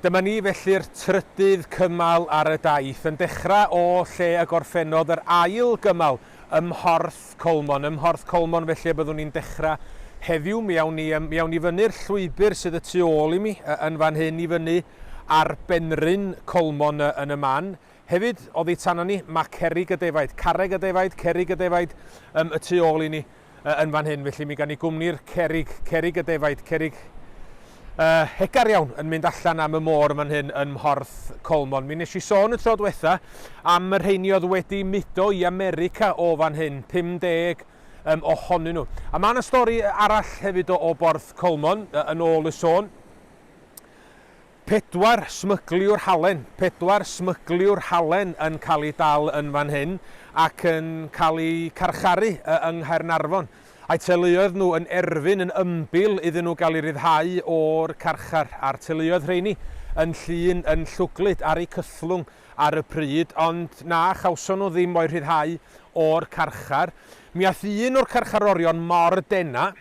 Dyma ni felly'r trydydd cymal ar y daith, yn dechrau o lle y gorffennodd yr ail gymal, ym Mhorth Colmon. Ym Mhorth Colmon felly y byddwn ni'n dechrau heddiw. Mi awn ni, yym, mi awn ni fyny'r llwybr sydd y tu ôl i mi, yy, yn fan hyn, i fyny ar benrhyn Colmon, yy, yn y man. Hefyd, oddi tano ni, ma' cerrig y defaid, carreg y defaid, cerrig y defaid, yym, y tu ôl i ni. uh, yn fan hyn, felly mi gan i gwmni'r cerig, cerig y defaid, cerig uh, hegar iawn yn mynd allan am y môr fan hyn yn Mhorth Colmon. Mi nes i sôn y tro diwetha am yr rheini oedd wedi mudo i America o fan hyn, 50 um, ohonyn nhw. A mae yna stori arall hefyd o, o Borth Colmon, uh, yn ôl y sôn. Pedwar smygliwr halen, pedwar smygliwr halen yn cael eu dal yn fan hyn ac yn cael eu carcharu yng Nghaernarfon. A'u teuluoedd nhw yn erfyn yn ymbil iddyn nhw gael eu rhyddhau o'r carchar, a'r teuluoedd rheini yn Llŷn yn llwglyd ar eu cythlwng ar y pryd, ond na chawson nhw ddim o'u rhyddhau o'r carchar. Mi aeth un o'r carcharorion mor dena',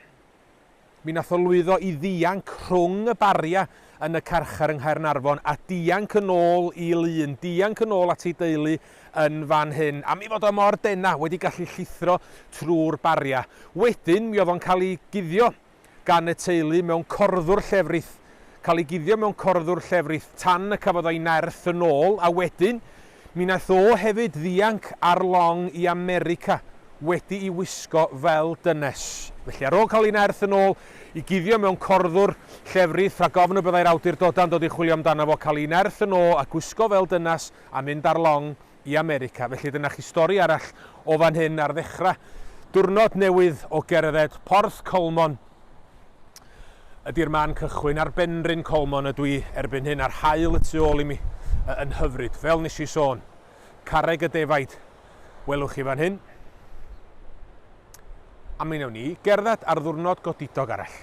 Mi wnaeth o lwyddo i ddianc rhwng y bariau yn y carchar yng Nghaernarfon a dianc yn ôl i Lŷn, dianc yn ôl at ei deulu yn fan hyn, am ei fod o mor denau, wedi gallu llithro trwy'r bariau. Wedyn, mi oedd o'n cael ei guddio gan y teulu mewn corddwr llefrith, cael ei guddio mewn corddwr llefrith tan y cafodd o'i nerth yn ôl, a wedyn, Mi wnaeth o hefyd ddianc ar long i America wedi'i wisgo fel dynes. Felly, ar ôl cael ei nerth yn ôl i guddio mewn corddwr llefrith rhag ofn y byddai'r awdurdodau'n dod i chwilio amdano fo, cael ei nerth yn ôl a gwisgo fel dynas a mynd ar long i America. Felly, dyna chi stori arall o fan hyn ar ddechrau diwrnod newydd o gerdded Porth Colmon. Ydy'r man cychwyn ar Benrhyn Colmon ydw i erbyn hyn a'r haul y tu ôl i mi yn hyfryd, fel nes i sôn. Carreg y defaid, welwch chi fan hyn. A mi wnawn ni gerdded ar ddwrnod godidog arall.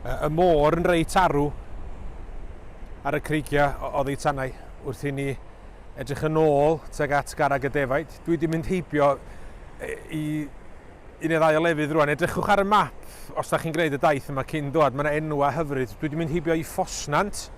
Y môr yn reit arw ar y creigiau oddi tanau wrth i ni Edrych yn ôl tuag at garreg y defaid. Dwi wedi mynd heibio i un neu ddau o lefydd rwan. Edrychwch ar y map os da chi'n gwneud y daith yma cyn dod. Mae yna enwau hyfryd. Dwi wedi mynd heibio i Ffosnant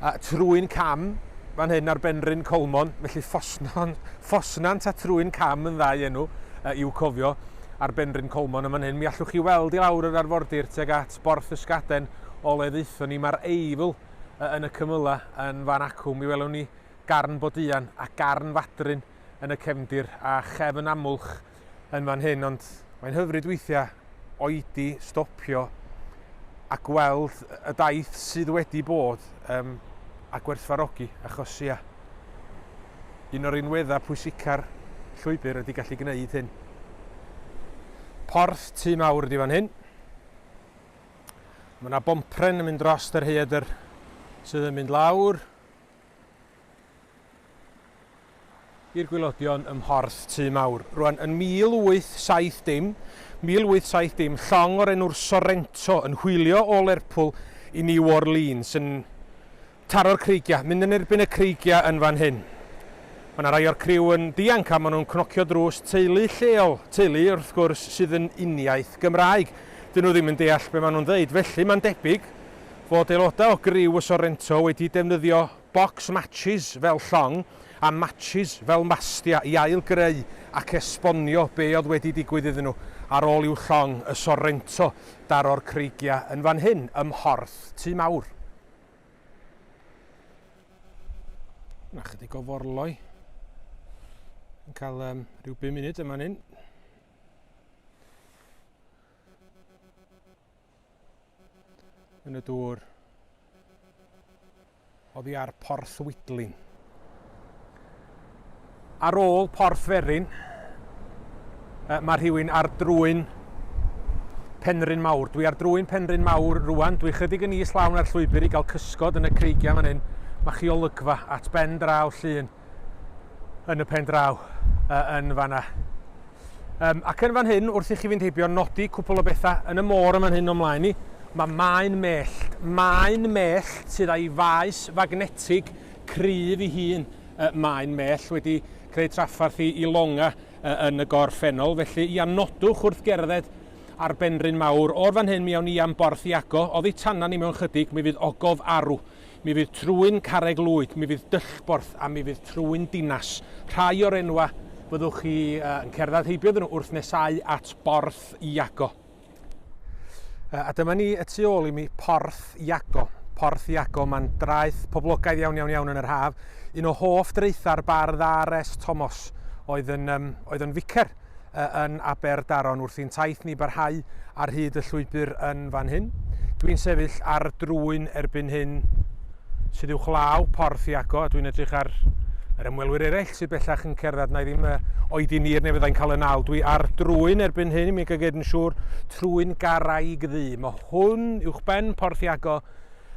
a trwy'n cam fan hyn ar Benrhyn Colmon. Felly Ffosnon, Ffosnant a trwy'n cam yn ddau enw uh, i'w cofio ar Benrhyn Colmon yma hyn. Mi allwch chi weld i lawr yr arfordir tuag at Borth Ysgaden o le ddeithon ni. Mae'r Eifl yn y cymylau yn fan acw, mi welwn ni garn boduan a garn fadryn yn y cefndir a chefn amwlch yn fan hyn, ond mae'n hyfryd weithiau oedi stopio a gweld y daith sydd wedi bod um, a gwerthfarogi, achos ia, un o'r unweddau pwysica'r llwybr ydy gallu gwneud hyn. Porth tu mawr ydy fan hyn. Mae yna bompren yn mynd dros y rhaeadr sydd yn mynd lawr i'r gwylodion ym Mhorth Tŷ Mawr. Rwan, yn 1870, 1870, llong o'r enw'r Sorrento yn hwylio o Lerpwl i New Orleans yn Taro'r creigiau. Mynd yn erbyn y creigiau yn fan hyn. Mae 'na rai o'r criw yn dianc a maen nhw'n cnocio drws teulu lleol. Teulu, wrth gwrs, sydd yn uniaith Gymraeg. Dyn nhw ddim yn deall be maen nhw'n ddeud. Felly, mae'n debyg fod aelodau o griw y Sorrento wedi defnyddio box matches fel llong a matches fel mastia i ail-greu ac esbonio be oedd wedi digwydd iddyn nhw ar ôl i'w llong, y Sorrento, daro'r creigiau yn fan hyn, ym mhorth tŷ mawr. Mae chydig o forloi yn cael um, rhyw 5 munud yma ni'n. Yn y dŵr. Oddi ar Porth Widlin. Ar ôl Porth Ferin, mae rhywun ar drwyn Penrhyn Mawr. Dwi ar drwyn Penrhyn Mawr rwan. Dwi chydig yn is lawn ar llwybr i gael cysgod yn y creigiau fan hyn. Mae chi olygfa at ben draw llun yn y pen draw yn fanna. Um, ac yn fan hyn, wrth i chi fynd heibio, nodi cwpl o bethau yn y môr yn fan hyn o'n mlaen ni. Mae maen mellt, maen mellt sydd â'i faes fagnetig cryf i hun. Maen mell wedi creu traffarth i longa yn y gorffennol, felly ia, nodwch wrth gerdded ar Benrhyn Mawr. O'r fan hyn mi awn ni am Borth Iago, oddi tanan ni mewn chydig mi fydd Ogof Arw, mi fydd Trwyn Carreg Lwyd, mi fydd Dyllborth a mi fydd Trwyn Dinas. Rhai o'r enwa fyddwch chi yn cerdded heibio iddyn nhw wrth nesáu at Borth Iago. Uh, a dyma ni y tu ôl i mi, Porth Iago. Porth Iago, mae'n draeth poblogaidd iawn iawn iawn yn yr haf. Un o hoff draetha'r bardd R.S. Tomos oedd yn, um, oedd yn ficer uh, yn Aberdaron wrth i'n taith ni barhau ar hyd y llwybr yn fan hyn. Dwi'n sefyll ar drwyn erbyn hyn sydd uwchlaw Porth Iago, a dwi'n edrych ar yr ymwelwyr eraill sydd bellach yn cerdded, na i ddim oed i ni'r neu fyddai'n cael y naw. Dwi ar drwyn erbyn hyn, i mi gael gyd yn siŵr, trwyn garaig ddu. Mae hwn uwch ben Porth Iago,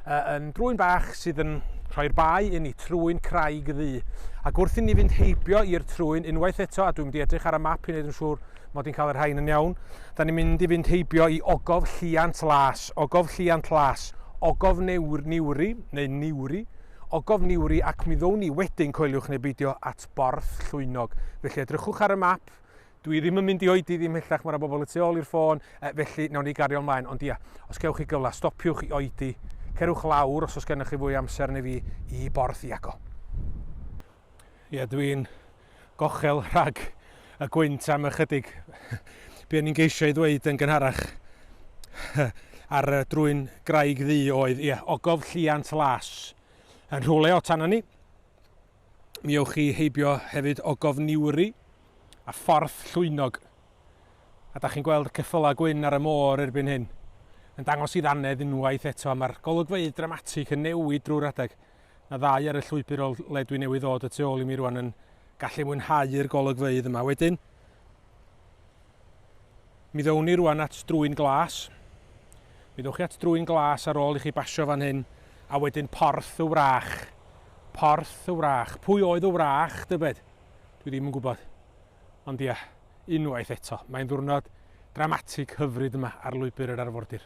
yn drwyn bach sydd yn rhoi'r bae inni, trwyn craig ddu. Ac wrth inni fynd heibio i'r trwyn unwaith eto, a dwi'n mynd i edrych ar y map i wneud yn siŵr Mod i'n cael y rhain yn iawn. Da ni'n mynd i fynd heibio i Ogof Lliant Las, Ogof Lliant Las, Ogof Newr, Niwri, neu Niwri, Ogof Niwri ac mi ddown ni wedyn, coeliwch neu beidio, at Borth Llwynog. Felly edrychwch ar y map. Dwi ddim yn mynd i oedi ddim hellach, mae yna bobl y tu ôl i'r ffôn, e, felly nawn ni gario ymlaen. Ond ia, os gewch chi gyfle, stopiwch i oedi, cerwch lawr os oes gennych chi fwy amser neu fi i Borth Iago. Ia, dwi'n gochel rhag y gwynt am ychydig. Be o'n i'n geisio ei ddweud yn gynharach ar y drwy'n graig ddu oedd, ie, ogof lliant las yn rhywle o tan ni. Mi ewch chi heibio hefyd ogof niwri a ffordd llwynog. A da chi'n gweld y ceffylau gwyn ar y môr erbyn hyn yn dangos i ddannedd unwaith eto. Mae'r golygfeydd dramatig yn newid drwy'r adeg. na ddau ar y llwybr o le dwi newydd ddod y tu ôl i mi rwan yn gallu mwynhau'r golygfeydd yma. Wedyn, mi ddown ni rwan at drwy'n glas. Mi ddewch chi at drwy'n glas ar ôl i chi basio fan hyn, a wedyn porth y wrach. Porth y wrach. Pwy oedd y wrach, dybed? Dwi ddim yn gwybod. Ond ia, unwaith eto, mae'n ddwrnod dramatig hyfryd yma ar lwybr yr arfordir.